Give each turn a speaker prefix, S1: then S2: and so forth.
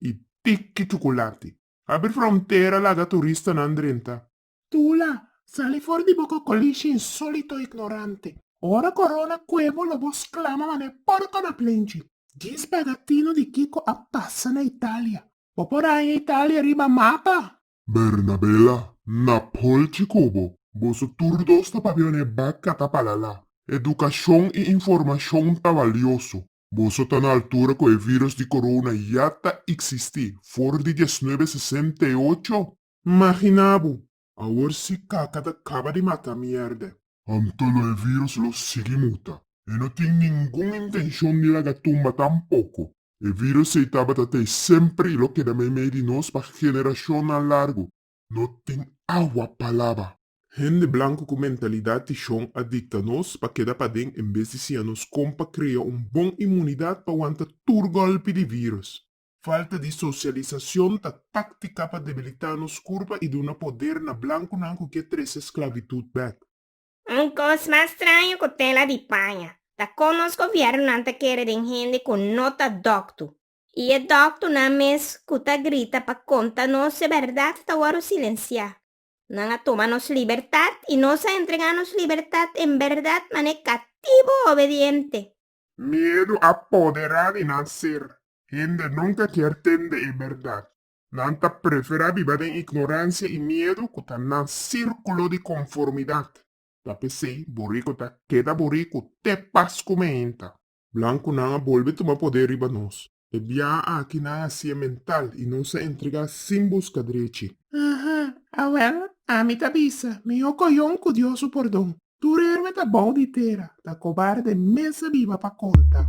S1: i tiki chukulati. Abri frontera laga turistanan drenta. Tula,
S2: sali for di bo kokolishi insólito ignorante. Ora korona kue bo lo bo sklama manera porko na plenchi. Djis paga tino di kiko a pasa na Italia. Bo por haña Italia riba mapa. Bernabela,
S1: na polchi ku bo. Boso tur dos ta papia manera e baka ta palala. Edukashon i informashon ta valioso. Boso ta na altura cu e virus di corona ya ta icsistí for di diasnuebe sesenta i ocho? Magina bo, awor si caca ta caba di mata mierde. Anto lo e virus lo sigui muta. E no tin ningun intencion di laga tumba tampoco. E virus ei tabata t'ei semper i lo keda meimei di nos pa generacionnan largo. No tin awa pa laba. Hende blanku ku mentalidat di shon a dikta nos pa keda paden en bes di siña nos kon pa krea un bon inmunidat pa wanta tur gòlpi di vírùs. Falta di sosialisashon ta táktika pa debilitá nos kurpa i duna poder na blankunan ku ke trese sklavitut bèk. Un kos
S3: mas straño ku tela di paña ta kon nos gobièrnunan ta kere den hende ku no ta dòktu. I e dòktonan mes ku ta grita pa konta nos e bèrdat ta wòru silensiá. Nan a tuma nos libertat i nos a entregá nos libertat en bèrdat manera katibu obediente. Miedu
S1: a poderá di nan ser. Hende nunka kier tende e bèrdat. Nan ta preferá biba den ignoransia i miedu ku ta nan sírkulo di konformidat. Ta p'esei boriku ta keda boriku te pas ku meinta. Blancunan a bolbe tuma poder riba nos. E biaha aki nan a siye mental y nos a entrega sin busca drechi. Aha,
S2: awel, ami ta bisa, miho coyon cu Dios su pordon. Tur herbe ta bao di tera, ta cobarde mes a biba pa conta.